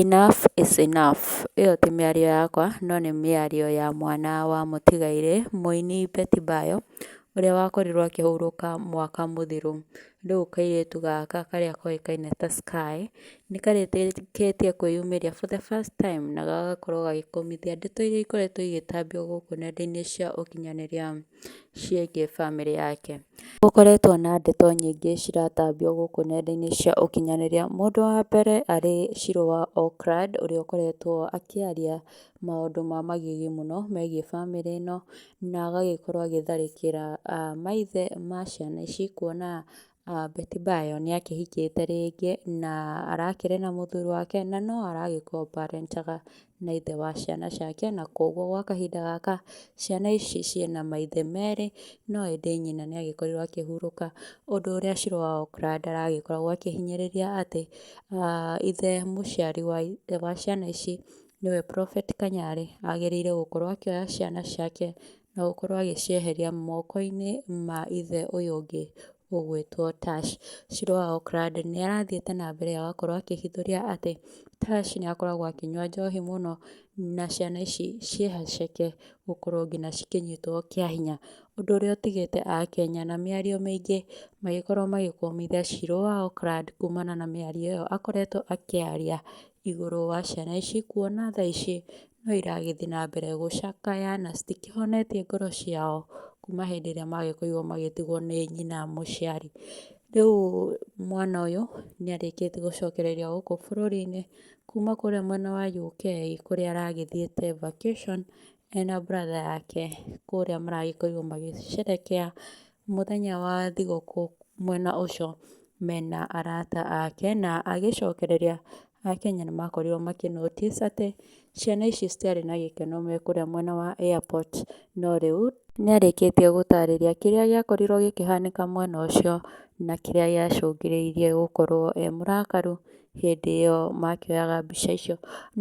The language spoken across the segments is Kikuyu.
Enough is enough ĩyo ti mĩario yakwa no nĩ mĩario ya mwana wa mũtigairĩ mũini Betty Bayo ũrĩa wakorirwo akĩhurũka mwaka mũthiru. Rĩu kairĩtu gaka karĩa koĩkaine ta Sky nĩ karĩkĩtie kwĩyumĩria for the first time na gagakorwo gagĩkũmithia ndeto iria ikoretwo igĩtambio gũkũ nenda-inĩ cia ũkinyanĩria. ciĩgiĩ bamĩrĩ yake. Gũkoretwo na ndeto nyingĩ ciratambio gũkũ nenda-inĩ cia ũkinyanĩria, mũndũ wa mbere arĩ Shirũ wa Oakland ũrĩa ũkoretwo akĩaria maũndũ ma magigi mũno megiĩ bamĩrĩ ĩno, na agagĩkorwo agĩtharĩkĩra maithe ma ciana ici, kuona Beti Mbayo nĩ akĩhikĩte rĩngĩ na arakĩrĩ na mũthuri wake na no aragĩkombarentaga na ithe wa ciana ciake na kwoguo gwa kahinda gaka ciana ici ciĩ na maithe merĩ no ĩndĩ nyina nĩ agĩkorirwo akĩhurũka ũndũ ũrĩa cĩrũ wa okra ndaragĩkoragwo akĩhinyĩrĩria atĩ ithe mũciari wa ciana ici nĩwe prophet Kanyarĩ agĩrĩire gũkorwo akĩoya ciana ciake Na gũkorwo agĩcieheria moko-inĩ ma ithe ũyũ ũngĩ ũgwĩtwo Tash. Shiro wa Okrad nĩ arathiĩte na mbere agakorwo akĩhithũria atĩ Tash nĩ akoragwo akĩnyua njohi mũno, na ciana ici ciĩhaceke gũkorwo nginya cikĩnyitwo kĩa hinya. Ũndũ ũrĩa ũtigĩte Akenya na mĩario mĩingĩ magĩkorwo magĩkũmithia Shiro wa Okrad kumana na mĩario ĩyo akoretwo akĩaria igũrũ wa ciana ici, kuona thaa ici no iragĩthiĩ na mbere gũcakaya na citikĩhonetie ngoro ciao kuma hĩndĩ ĩrĩa magĩkorirwo magĩtigwo nĩ nyina mũciari. Rĩu mwana ũyũ nĩ arĩkĩtie gũcokereria gũkũ bũrũri-inĩ kuma kũrĩa mwena wa UK kũrĩa aragĩthiĩte vacation ena brother yake kũrĩa maragĩkorirwo magĩcerehekea mũthenya wa thigũkũ mwena ũcio mena arata ake na agĩcokereria Akenya nĩ makorirwo makĩ notice atĩ ciana ici citiarĩ na gĩkeno me kũrĩa mwena wa airport, no rĩu nĩ arĩkĩtie gũtarĩria kĩrĩa gĩakorirwo gĩkĩhanĩka mwena ũcio na kĩrĩa gĩacũngĩrĩirie gũkorwo e mũrakaru hĩndĩ ĩyo makĩoyaga mbica icio.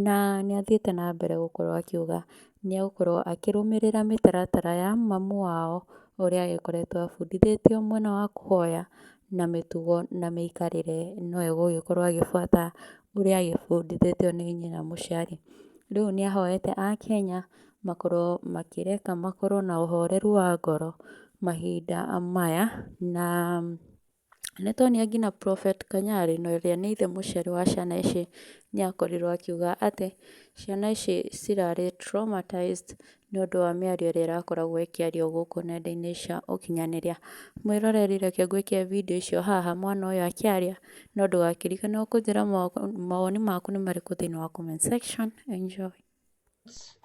Na nĩ athiĩte na mbere gũkorwo akiuga nĩ egũkorwo akĩrũmĩrĩra mĩtaratara ya mamu wao ũrĩa agĩkoretwo abundithĩtio mwena wa kũhoya na mĩtugo na mĩikarĩre no egũgĩkorwo agĩbuata ũrĩa agĩbundithĩtio nĩ nyina mũciari. Rĩu nĩ ahoete Akenya makorwo makĩreka makorwo na ũhoreru wa ngoro mahinda maya na nĩ tuonia nginya Prophet Kanyari na ũrĩa nĩ ithe mũciari wa ciana ici nĩ akorirwo akiuga atĩ ciana ici cirarĩ traumatized nĩ ũndũ wa mĩario ĩrĩa ĩrakoragwo ĩkĩario gũkũ nenda-inĩ cia ũkinyanĩria. Mwĩroreri reke ngũĩkĩre video ĩcio haha mwana ũyũ akĩaria, no ndũgakĩrikane o kũnjĩra mawoni maku nĩ marĩkũ thĩiniĩ wa comment section. Enjoy.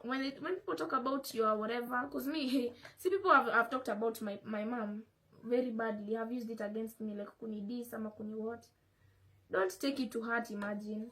when they, when people talk about your whatever, because me, hey, see people have, have talked about my my mom very badly, have used it against me, like kuni this ama kuni what. Don't take it to heart. Imagine